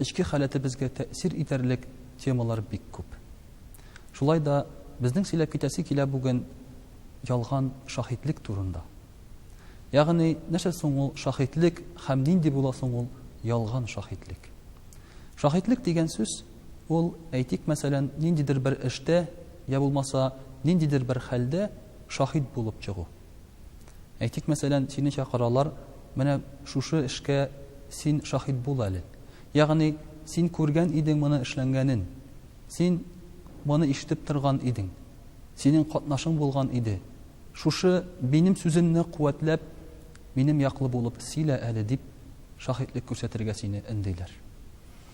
Эчке халәтебезгә тәэсир итәрлек темалар бик күп. Шулай да безнең сөйләп китәсе килә бүген ялган шаһитлек турында. Ягъни, нәрсә соң ул шаһитлек һәм нинди була соң ул ялган шаһитлек? Шаһитлек дигән сүз, ул, әйтик, мәсәлән, ниндидер бер эштә, я булмаса, ниндидер бер хәлдә шаһит булып чыгу. Әйтик, мәсәлән, сине чакыралар, менә шушы эшкә син шаһит бул әле. Ягъни, син күргән идең моны эшләнгәнен, син моны ишетеп торган идең, синең катнашың булган иде. Шушы минем сүземне куәтләп, минем яклы булып сөйлә әле, дип шаһитлек күрсәтергә сине өндиләр.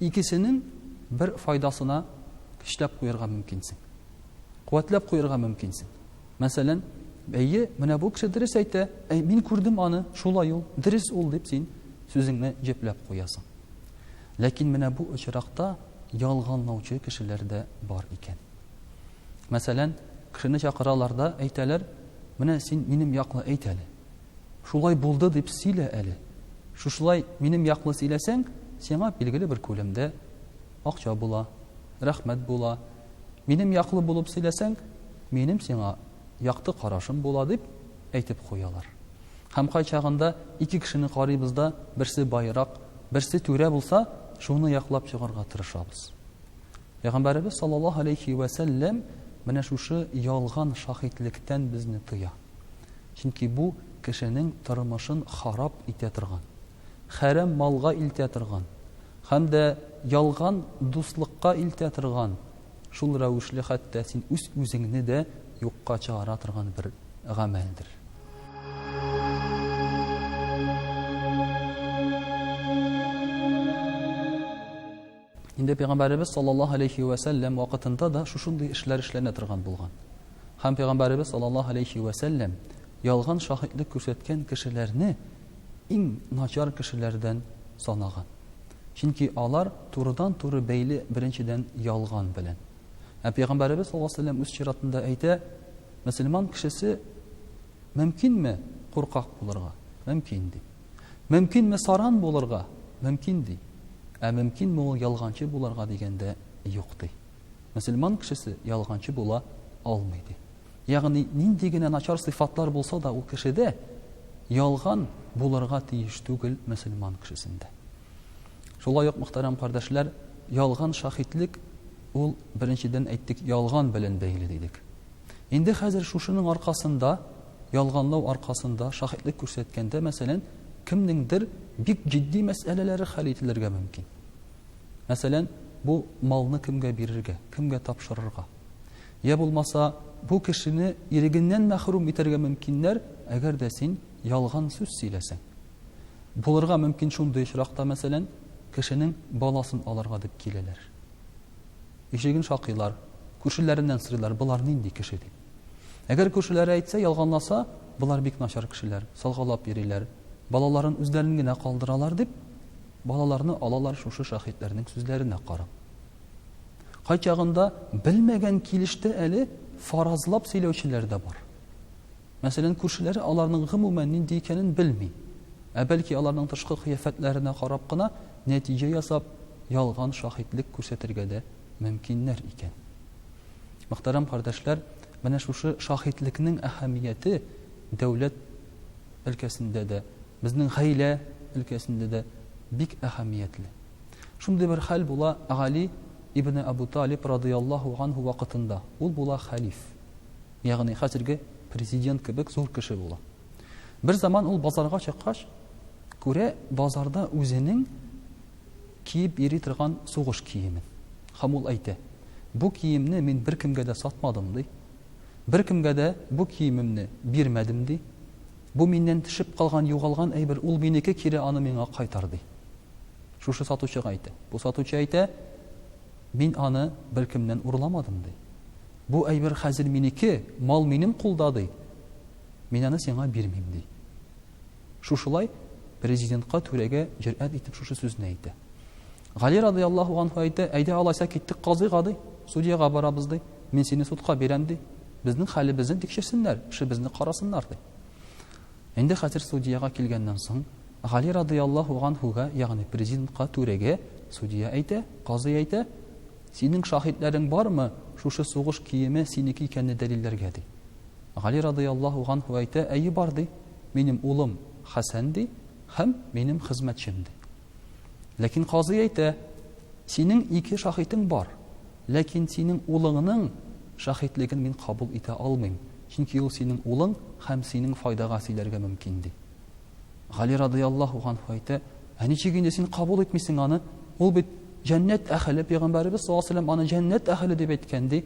Икесенең бер файдасына көчләп куярга мөмкинсең. Куәтләп куярга мөмкинсең. Мәсәлән, Әйе, менә бу кеше дөрес әйтә, әй, мин күрдем аны, шулай ул, дөрес ул, дип син сүзеңне җепләп куясың. Ләкин менә бу очракта ялганлаучы кешеләр дә бар икән. Мәсәлән, кешене чакыралар да әйтәләр, Менә син минем яклы әйт әле. Шулай булды дип сөйлә әле. Шушылай минем яклы сөйләсәң, сиңа билгеле бер күләмдә акча була, рәхмәт була. Минем яклы булып сөйләсәң, минем сиңа якты карашым була, дип әйтеп куялар. Һәм кайчагында ике кешене карыйбыз да, берсе байрак, берсе түрә булса, шуны яклап чыгарга тырышабыз. Пәйгамбәребез саллаллаһу алейхи вә сәлләм менә шушы ялган шаһитлектән безне тыя. Чөнки бу кешенең тормышын харап итә торган, хәрәм малга илтә торган һәм дә ялган дуслыкка илтә торган, шул рәвешле хәтта син үз-үзеңне дә юкка чыгара торган бер гамәлдер. Инде пәйгамбәребез саллаллаһу алейһи вә сәлләм вакытында да шушындый эшләр эшләнә торган булган. Һәм пәйгамбәребез саллаллаһу алейһи вә сәлләм ялган шаһитлек күрсәткән кешеләрне иң начар кешеләрдән санаган. Чөнки алар турыдан-туры бәйле беренчедән ялган белән. Ә пәйгамбәребез саллаллаһу алейһи вә сәлләм үз чиратында әйтә, мөселман кешесе мөмкинме куркак булырга? Мөмкин дип. Мөмкинме саран булырга? Мөмкин, ди. Ә мөмкинме ул ялганчы булырга дигәндә, юк, ди. Мөселман кешесе ялганчы була алмый, ди. Ягъни нинди генә начар сыйфатлар булса да ул кешедә, ялган булырга тиеш түгел мөселман кешесендә. Шулай ук, мөхтәрәм кардәшләр, ялган шаһитлек ул, беренчедән әйттек, ялган белән бәйле дидек. Инде хәзер шушының аркасында Ялганлау аркасында шаһитлек күрсәткәндә, мәсәлән, кемнеңдер бик җитди мәсьәләләре хәл ителергә мөмкин. Мәсәлән, бу малны кемгә бирергә, кемгә тапшырырга? Йә булмаса, бу кешене ирегеннән мәхрүм итәргә мөмкиннәр, әгәр дә син ялган сүз сөйләсәң. Булырга мөмкин шундый очракта, мәсәлән, кешенең баласын алырга дип киләләр. Ишеген шакыйлар, күршеләреннән сорыйлар, болар нинди кеше дип. Әгәр күршеләре әйтсә, ялганласа, болар бик начар кешеләр, салгалап йөриләр, балаларын үзләрен генә калдыралар дип, балаларны алалар шушы шаһитләрнең сүзләренә карап. Кайчагында белмәгән килеште әле фаразлап сөйләүчеләр дә бар. Мәсәлән, күршеләре аларның гомумән нинди икәнен белми. Ә бәлки аларның тышкы кыяфәтләренә карап кына нәтиҗә ясап, ялган шаһитлек күрсәтергә дә мөмкиннәр икән. Мөхтәрәм кардәшләр, менә шушы шаһитлекнең әһәмияте дәүләт өлкәсендә дә, безнең гаилә өлкәсендә дә бик әһәмиятле. Шундый бер хәл була Гали ибне Әбү Талиб радыяллаһу анһу вакытында. Ул була хәлиф, ягъни хәзерге президент кебек зур кеше була. Берзаман ул базарга чыккач, күрә, базарда үзенең Киеп йөри торган сугыш киемен. Һәм ул әйтә, Бу киемне мин беркемгә дә сатмадым, ди. Беркемгә дә бу киемемне бирмәдем, ди. Бу миннән төшеп калган, югалган әйбер, ул минеке, кире аны миңа кайтар, ди. Шушы сатучыга әйтә. Бу сатучы әйтә, Мин аны беркемнән урламадым, ди. Бу әйбер хәзер минеке, мал минем кулда, ди. Мин аны сиңа бирмим, ди. Шушылай Президентка түрәгә җөрьәт итеп шушы сүзне әйтә. Гали радыяллаһу анһу әйтә, әйдә алайса киттек казыйга ди, судьяга барабыз ди, мин сине судка бирәм ди, безнең хәлебезне тикшерсеннәр, эшебезне карасыннар ди. Инде хәзер судьяга килгәннән соң, Гали радыяллаһу анһуга, ягъни президентка, түрәгә, судья әйтә, казый әйтә, синең шаһитләрең бармы шушы сугыш киеме синеке икәнне дәлилләргә ди. Гали радыяллаһу анһу әйтә, әйе бар ди. минем улым Хәсән, ди, һәм минем хезмәтчем, ди. Ләкин казый әйтә, Синең ике шаһитең бар, ләкин синең улыңның шаһитлеген мин кабул итә алмыйм, чөнки ул синең улың һәм синең файдага сөйләргә мөмкин, ди. Гали радыяллаһу ганһу әйтә, Ә ничек инде син кабул итмисең аны? Ул бит җәннәт әһеле, пәйгамбәребез саллаллаһу алейһи ва сәлләм аны җәннәт әһеле дип әйткән, ди.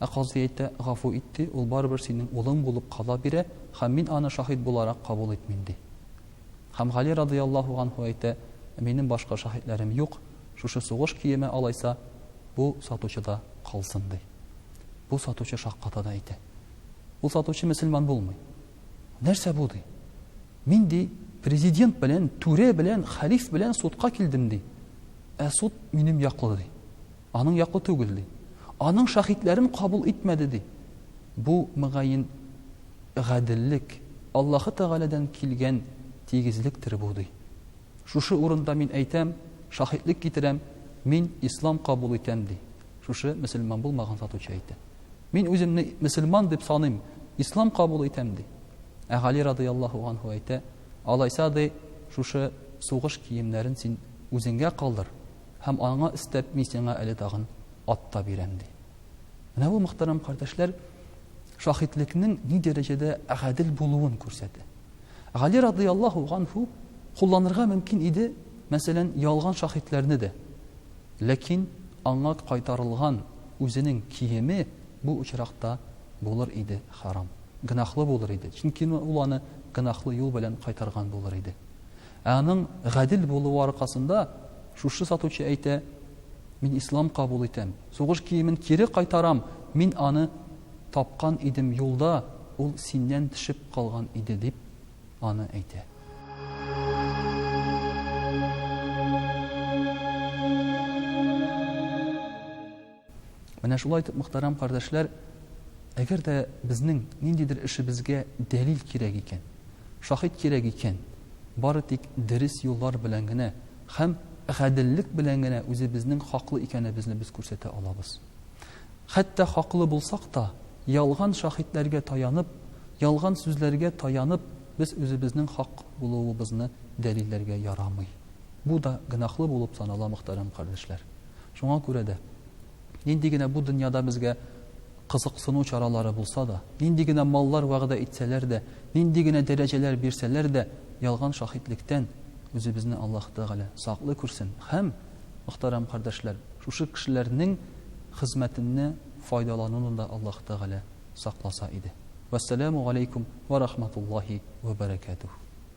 Ә казый әйтә, Гафу ит, ди, ул барыбер синең улың булып кала бирә һәм мин аны шаһит буларак кабул итмим, ди. Һәм Гали радыяллаһу анһу әйтә, Минем башка шаһитләрем юк, шушы сугыш киеме алайса, бу сатучыда калсын, ди. Бу сатучы шакката да әйтә, Ул сатучы мөселман булмый. Нәрсә бу, ди? Мин, ди, президент белән, түрә белән, хәлиф белән судка килдем, ди. Ә суд минем яклы, ди. Аның яклы түгел, ди. Аның шаһитләрен кабул итмәде, ди. Бу, мөгаен, гаделлек, Аллаһы Тәгаләдән килгән тигезлектер бу, ди. Шушы урында мин әйтәм, шаһитлек китерәм, мин ислам кабул итәм, ди. Шушы мөселман булмаган сатучы әйтә. Мин үземне мөселман дип саныйм, ислам кабул итәм, ди. Ә Гали радыяллаһу анһу әйтә, Алайса, ди, шушы сугыш киемнәрен син үзеңгә калдыр, Һәм аңа өстәп мин сиңа әле тагын ат та бирәм, ди. Менә бу, мөхтәрәм кардәшләр, шаһитлекнең ни дәрәҗәдә гадел булуын күрсәтә. Гали радыяллаһу ганһу кулланырга мөмкин иде, мәсәлән, ялган шаһитләрне дә. Ләкин аңа кайтарылган үзенең киеме бу очракта булыр иде харам, гөнаһлы булыр иде, чөнки ул аны гөнаһлы юл белән кайтарган булыр иде. Ә аның гадел булуы аркасында, шушы сатучы әйтә, Мин ислам кабул итәм, сугыш киемен кире кайтарам, мин аны тапкан идем юлда, ул синнән төшеп калган иде, дип аны әйтә. Менә шулай итеп, мөхтәрәм кардәшләр, әгәр дә безнең ниндидер эшебезгә дәлил кирәк икән, шаһит кирәк икән, бары тик дөрес юллар белән генә һәм гаделлек белән генә үзебезнең хаклы икәнебезне без күрсәтә алабыз. Хәтта хаклы булсак та, ялган шаһитләргә таянып, ялган сүзләргә таянып, без үзебезнең хак булуыбызны дәлилләргә ярамый. Бу да гөнаһлы булып санала, мөхтәрәм кардәшләр. Шуңа күрә дә, нинди генә бу дөньяда безгә кызыксыну чаралары булса да, нинди генә маллар вәгъдә итсәләр дә, нинди генә дәрәҗәләр бирсәләр дә, ялган шаһитлектән үзебезне Аллаһ Тәгалә саклый күрсен һәм, мөхтәрәм кардәшләр, шушы кешеләрнең хезмәтенне файдалануны да Аллаһ Тәгалә сакласа иде. Вәссәламү галәйкүм вә рахматуллаһи вә бәрәкәтүһ.